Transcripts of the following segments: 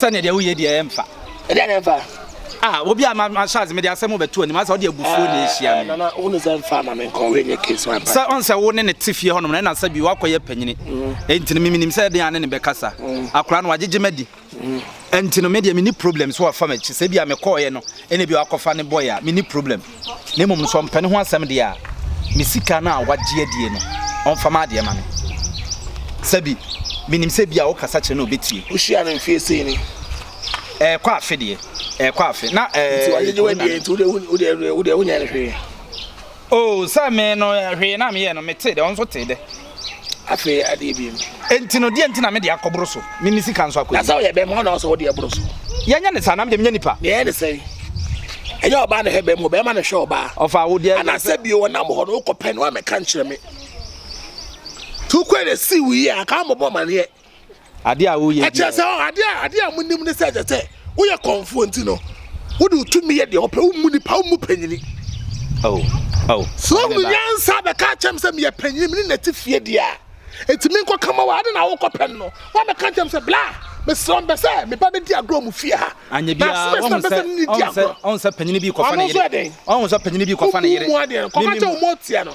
Sɛ nea deɛ woyɛ deɛ ɛmfa. Ɛdeɛ na ɛmfa. Ah, obi a ma ma charge me de asɛm bɛto anim asa ɔde abufuo na ɛhyia me. Nana, wo ne sɛ mfa ma me nkɔ wei nyɛ case ma mpa. Sɛ ɔn sɛ wo ne ne te fie hɔnom na ɛna sɛ bi wakɔ yɛ panyini. Ɛnti no mimi nim sɛ ɛdeɛ a ne ne bɛkasa. Akora no wagyegye madi. Ɛnti no me deɛ me ni problem sɛ wafa m'akyi sɛ bi a me kɔɔyɛ no ɛna bi wakɔfa ne boy a me ni problem. na mmom sɛ ɔmpɛ ne ho asɛm deɛ a, me sika no a wagye adie no, ɔmfa m'adeɛ ma me. Sɛbi, menim sɛ ebia wokasa kyerɛ no a ɔbɛtie. Wohyia no mfeɛ sei ni? Ɛɛkɔ afe deɛ, ɛɛkɔ afe. Na ɛɛ. Nti wagyegye w'adie nti wodeɛ wodeɛ wodeɛ wonyɛɛ no hwee? Oh, sɛ me no, hwee na meyɛɛ no, metee dɛ, ɔno nso tee dɛ. Afei adeɛ biem. Enti no, deɛ nti na me de akɔboro so, ne me sika nso akɔ anim? Na sɛ ɔyɛ bɛrima, hɔ na ɔsɛ wo deɛ boro so. Yɛnyɛ ne saa, na me deɛ menyɛ nipa. Deɛ ɛyɛ ne sɛ, ɛnyɛ ɔbaa na ɛhwɛ bɛrima o, bɛrima na ɛhwɛ ɔbaa. Ɔfaa wo deɛ. Ana sɛ bio ɔnam hɔ no, wokɔpɛ no a, mɛka nkyerɛ me. Nti wokɔɛ na ɛsii wo yie a, anka woammɔbɔ amaneɛ. Adeɛ a woyɛ biara. Ɛkyerɛ sɛ ɔ, adeɛ a, adeɛ a monim ne sɛ ɛsɛ sɛ woyɛ kɔmfoɔ nti no, wode wo tumi yɛ deɛ wopɛ, wommu nnipa, wommu panyini. Oh, oh. Sɛ wohunu nyansa bɛka akyerɛ me sɛ meyɛ panyini, mene nate fie deɛ a, enti menkɔka ma wo a, adɛn na wokɔpɛ no no? Woabɛka akyerɛ me sɛ, Bla, mesrɛ wo, mepɛ sɛ me ba bɛdi agorɔ wɔ mo fie ha. Anyɛ biara, woahu sɛ, ɔhu sɛ, ɔhu sɛ panyini bi rekɔfa ne yere, ɔhu sɛ panyini bi rekɔfa ne yere. Kɔka kyerɛ wo ma ɔteɛ no.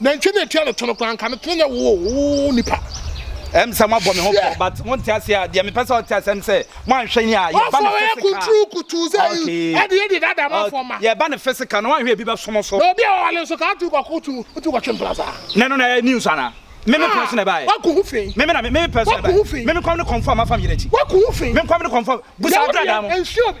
Nantwie na etua ne to no koraa nka ne to no nyɛ woo nipa. Ɛm sɛ mo abɔ me ho pɔ but mo nte ase a deɛ me pɛ sɛ ɔte ase ɛm sɛ mo anhwɛ yɛn a yɛ ba ne physical. Ɔfɔ yɛ kunturu kutu sɛ ɛde yɛ de dada mo afɔ ma. Yɛ ba ne physical na wanhwɛ ebi bɛ so mo so. Na obi a ɔwale nso ka atu kɔko tu tu kɔtwe mpla saa. Ne no na yɛ news ana. Me me pɛ so na ɛba yɛ. Waku ho fii. Me me na me me pɛ so na ɛba yɛ. Me me kɔm ne kɔmfo a ma fa me yere akyi. Waku ho fii. Me nkɔm ne kɔmfo a busa abrada mo. Yɛ wo deɛ nsua obi.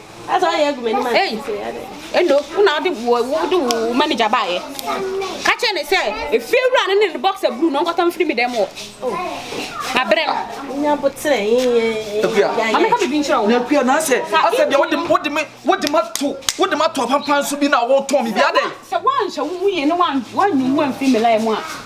ɛno wo na wode wo wode wo manager baayɛ ka kyerɛ ne sɛ efie wura no ne ne boxer blue no nkɔtɔ mfiri mi dɛm wɔ na berɛ no ameka biribi nkyerɛ wo nakua na sɛ asɛ deɛ wode wode me wode ma to wode ma to apampan so bi na wotɔn me bi adɛ sɛ woanhyɛ wo mu yie ne woanyi wo amfiri me line mu a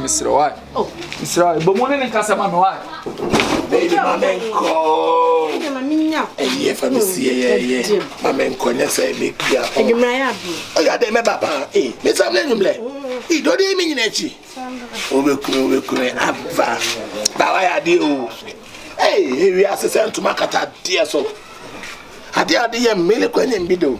Mesrɛ why? Oh, mesrɛ why? Bɔ mu ne ne nkasa ma me why? Baby, ma me nkɔ. Ɛyɛ fa me si ɛyɛ ɛyɛ. Ma me nkɔ nyɛ sɛ me kua. Adwumra yɛ abo. Ɔyɛ adɛ mɛba paa. Eh, me sam lɛ nwumlɛ. Eh, dɔde yi me nyina akyi. Wobɛkunu wobɛkunu aba. Ba wayɛ adeɛ o. Eh, ewi ase sɛ ntoma kata adeɛ so. Adeɛ ade yɛ mmele kɔ nyɛ mbi do.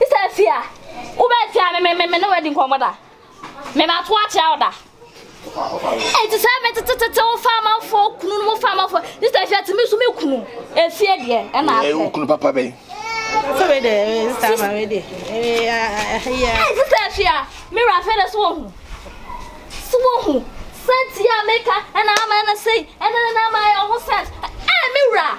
Sɛ afie a, wobɛn fie a me me me ne wadi nkɔmmɔ da. Me ma to akyerɛ wo da. Eti sɛ me tete tete wo fa amanfo kunu no mo fa amanfo. Ne sɛ afie tumi so me kunu. Afie deɛ ɛna afɛ. Ɛyɛ kunu papa bɛn. Sɛ me de me nsa ma me de. Ɛyɛ. Eti sɛ afie a me wura afɛ de so wɔ ho. So wɔ ho. Sɛ tia me ka ɛna ama ɛna sei ɛna ɛna ama ayɛ ho sɛ. Ɛyɛ me wura.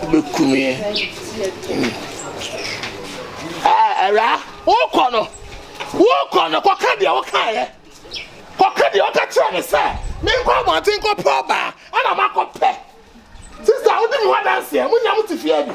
Wobɛku me eh, awuraa wokɔ no wokɔ no kɔka deɛ wokaeɛ kɔka deɛ woka kyerɛ me sɛ menkɔ abɔnten kɔpɛ ɔbaa ana makɔpɛ sista wode me ho adanseɛ monya mo te fie bi